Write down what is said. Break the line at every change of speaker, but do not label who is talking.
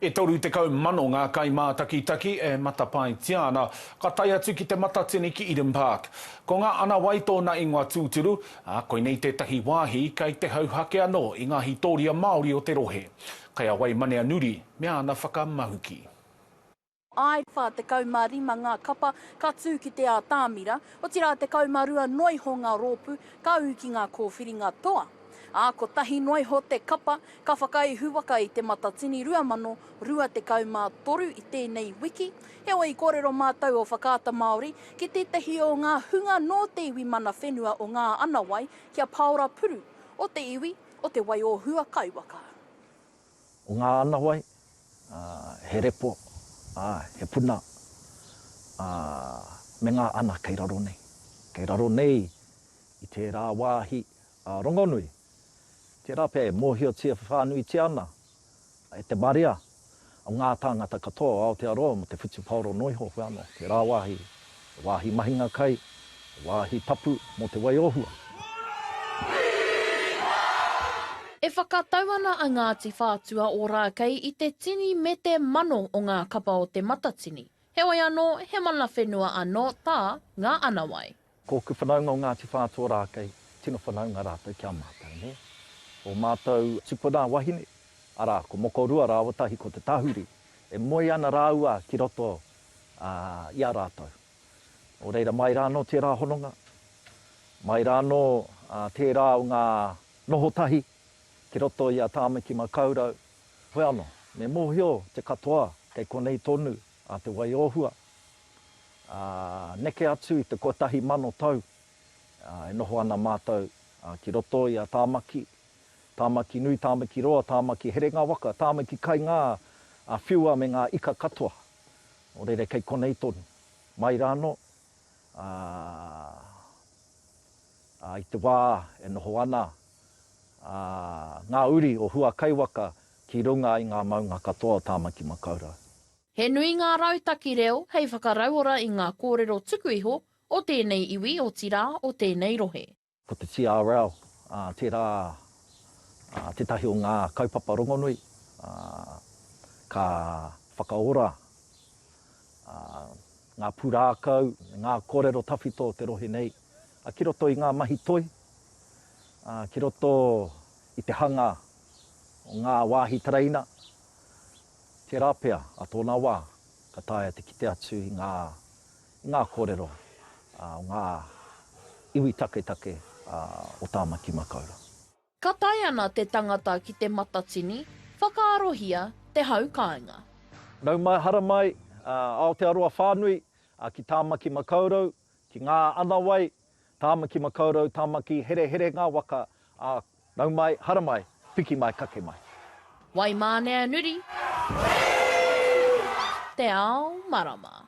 E 30,000 ngā kaimātakitaki e matapaetia ana, ka tae atu ki Te Matatini ki Eden Park. Ko Ngā Ana Wai tōna ingoa tūturu, ā, koinei tētahi wāhi kei te hauhake anō i ngā hītōria Māori o te rohe. Kei a Waimaneanuri me ana whakamahuki.
Āe, 45 ngā kapa ka tū ki te ātamira, otirā 12 noa iho ngā rōpū ka ū ki ngā kōwhiringa toa. ā, kotahi noa iho te kapa ka whakaihu waka i Te Matatini 2023 i tēnei wiki. Heoi, i kōrero mātou o Whakaata Māori ki tētahi o ngā hunga nō te iwi mana whenua o Ngā Anawai ki a Paora Puru, o te iwi o Te Waiōhua Kaiwaka.
O Ngā Anawai, ā, he repo, ā, he puna, ā, me ngā ana kei raro nei. Kei raro nei i tērā wāhi A Rongonui, tērā pea e mōhiotia whānuitia ana e te marea o ngā tāngata katoa o Aotearoa mō te whutupaoro noa iho hoki anō, tērā wāhi, he wāhi mahinga kai, he wāhi tapu mō te wai o hua.
E whakatau ana a Ngāti Whātua o Rākei i te tini me te mano o ngā kapa o Te Matatini, heoi anō, he mana whenua anō tā Ngā Anawai. Ko ōku whanaunga o
Ngāti Whātua-rākei, tino whanaunga rātou ki a mātou, nē. Ō mātou tupuna wahine, arā, ko Mokorua rāua tahi ko Te Tahuri, e moe ana rāua ki roto i a rātou. Nō reira, mai rā anō tērā hononga, mai rā anō tērā o ngā noho tahi ki roto i a Tāmaki Makaurau. Hoi anō, me mōhio te katoa kei konei tonu a Te Waiōhua, Ā, neke atu i te kotahi mano tau, ā, e noho ana mātou, ā, ki roto i a Tāmaki, Tāmaki nui, Tāmaki roa, Tāmaki herenga waka, Tāmaki kai ngā, ā, whiua me ngā ika katoa o rere kei konei tonu. Mai rānō, ā, ā, i te wā e noho ana, ā, ngā uri o Huakaiwaka ki runga i ngā maunga katoa o Tāmaki-makau-rau. He nui ngā
rautaki reo hei whakarauora i ngā kōrero tuku iho o tēnei iwi, otirā, o tēnei rohe. Ko te TRL
tērā tētahi o ngā kaupapa rongonui ka whakaora ngā pūrākau me ngā kōrero tawhito o te rohe nei ki roto i ngā mahi toi, ki roto i te hanga o ngā wāhi tereina, Tērā pea, ā tōna wā, ka taea te kite atu i ngā, i ngā kōrero o ngā iwi taketake o Tāmaki Makaurau. Ka tae
ana te tangata ki te matatini, whakaarohia te hau kāinga. Nau mai,
hara mai, Aotearoa whānui, ki Tāmaki Makaurau, ki Ngā Anawai. Tāmaki makaurau, Tāmaki herehere ngā waka, ā, nau mai, hara mai, piki mai, kake mai.
Waimāneanuri, Te Ao Marama.